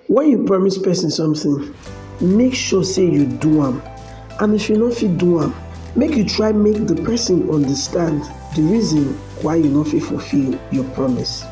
Wen you promise pesin something, make sure say you do am and if you no fit do am, make you try make the person understand the reason why you no fit fulfill your promise.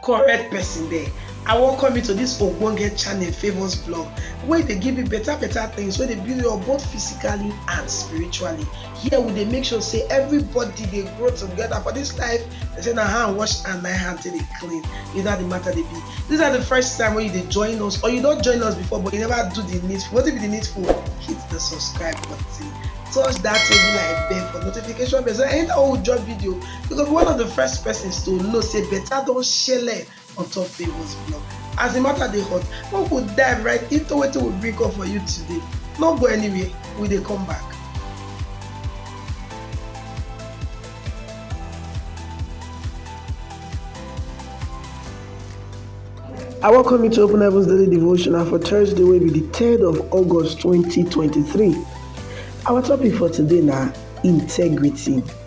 correct person there i welcome you to this ogbonge channel favours blog wey dey give you better better things wey dey build you up both physically and spiritually here we dey make sure say everybody dey grow together for this life they say na hand wash and na hand take dey clean you know the matter dey be this na the first time wey you dey join us or you don join us before but you never do the needful wetin be the needful hit the subscribe button touch that table like bell for notification bell so anytime we drop video you go be one of the first persons to know say better don shele on top Favour's blog. As the matter dey hot, we go dive right into wetin we bring come for you today. No go anywhere, we dey come back. I welcome you to Open Heavens Daily Devotional for Thursday, will be the 3rd of August 2023. Our topic for today now integrity.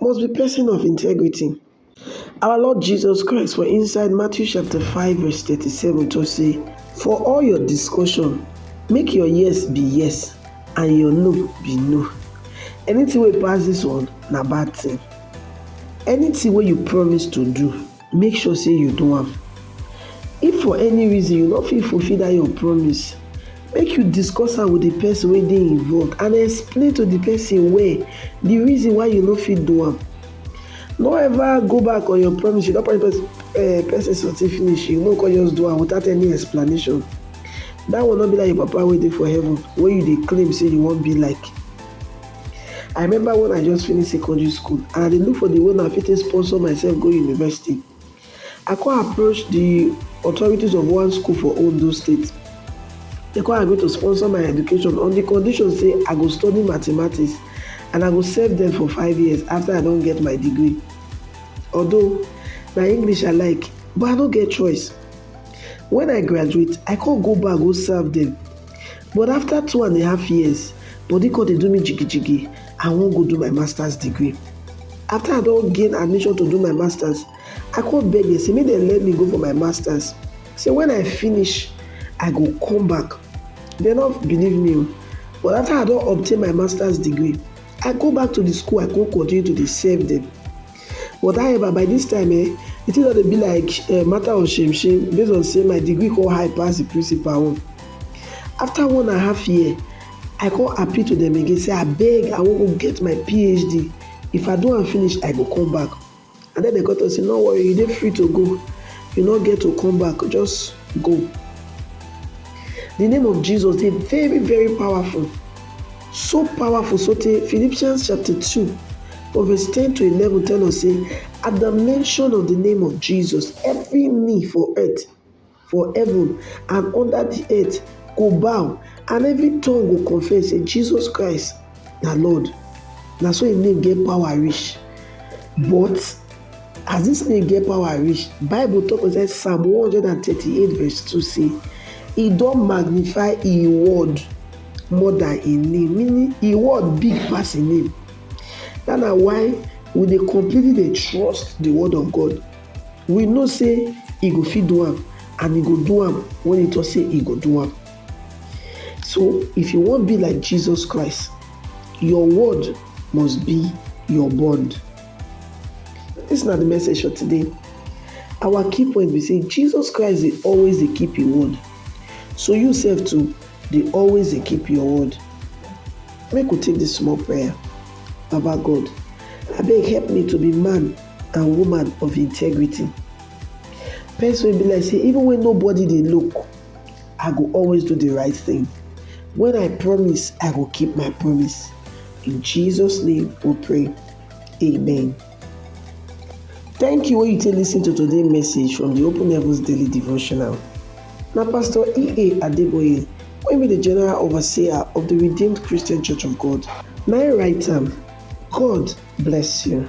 must be pesin of integrity. Our Lord Jesus Christ for inside Matthew chapter 5 verse 37 talk say, For all your discussion, make your yes be yes and your no be no. Anything wey pass this one na bad thing. Anything wey you promise to do, make sure say you do am. If for any reason you no fit fulfill that your promise, make you discuss am with the person wey dey involved and explain to the person well the reason why you no fit do am. No ever go back on your promise, you don promise eh, person something finish, you no come just do am without any explanation. That one no be like your papa wey dey for heaven wey you dey claim say you wan be like. I remember when I just finish secondary school and I dey look for the way I fit sponsor myself go university. I come approach the authorities of one school for Ondo State. They come agree to sponsor my education on the condition say I go study mathematics and I go serve them for five years after I don't get my degree. Although na English I like, but I no get choice. When I graduate, I come go back go serve them. But after two and a half years, body come dey do me jigijigi, I wan go do my master's degree. After I don gain admission to do my master's, I come beg dem say make dem let me go for my master's, say when I finish, I go come back. Dem no believe me o, but after I don obtain my master's degree, I go back to the school, I come continue to dey serve dem. Whatever, by dis time um di thing don dey be like um matter of shame shame base on sey my degree come high pass di principal own. After one and half year, I come appeal to dem again sey abeg I wan go get my PHD, if I do am finish I go come back and den dem come talk sey no worry you dey free to go, you no get to come back just go. Di name of Jesus dey very very powerful. So powerful sotey Philippians chapter two from verse ten to eleven tell us say at the mention of the name of Jesus every knee for earth for heaven and under the earth go bow and every tongue go confess say Jesus Christ na Lord na so im name get power reach but as dis name get power reach bible tok inside psalm 138 verse 2 say e don magnify e word more than im name meaning im word big pass im name that na why we dey completely dey trust the word of God we know say e go fit do am and e go do am when e talk say e go do am so if you wan be like Jesus Christ your word must be your bond this na the message for today our key point be say Jesus Christ dey always dey keep im word so you sef too dey always dey keep your word. Make we take dis small prayer. Baba God, abeg help me to be man and woman of integrity. Person wey be like say even when nobody dey look, I go always do the right thing. When I promise, I go keep my promise. In Jesus' name we pray. Amen. Thank you wey you take listen to today's message from the Open Heavens Daily Devotional. Na Pastor E.A. Adeboye wey be the General Overseer of the Redeemed Christian Church of God na im write am. God bless you.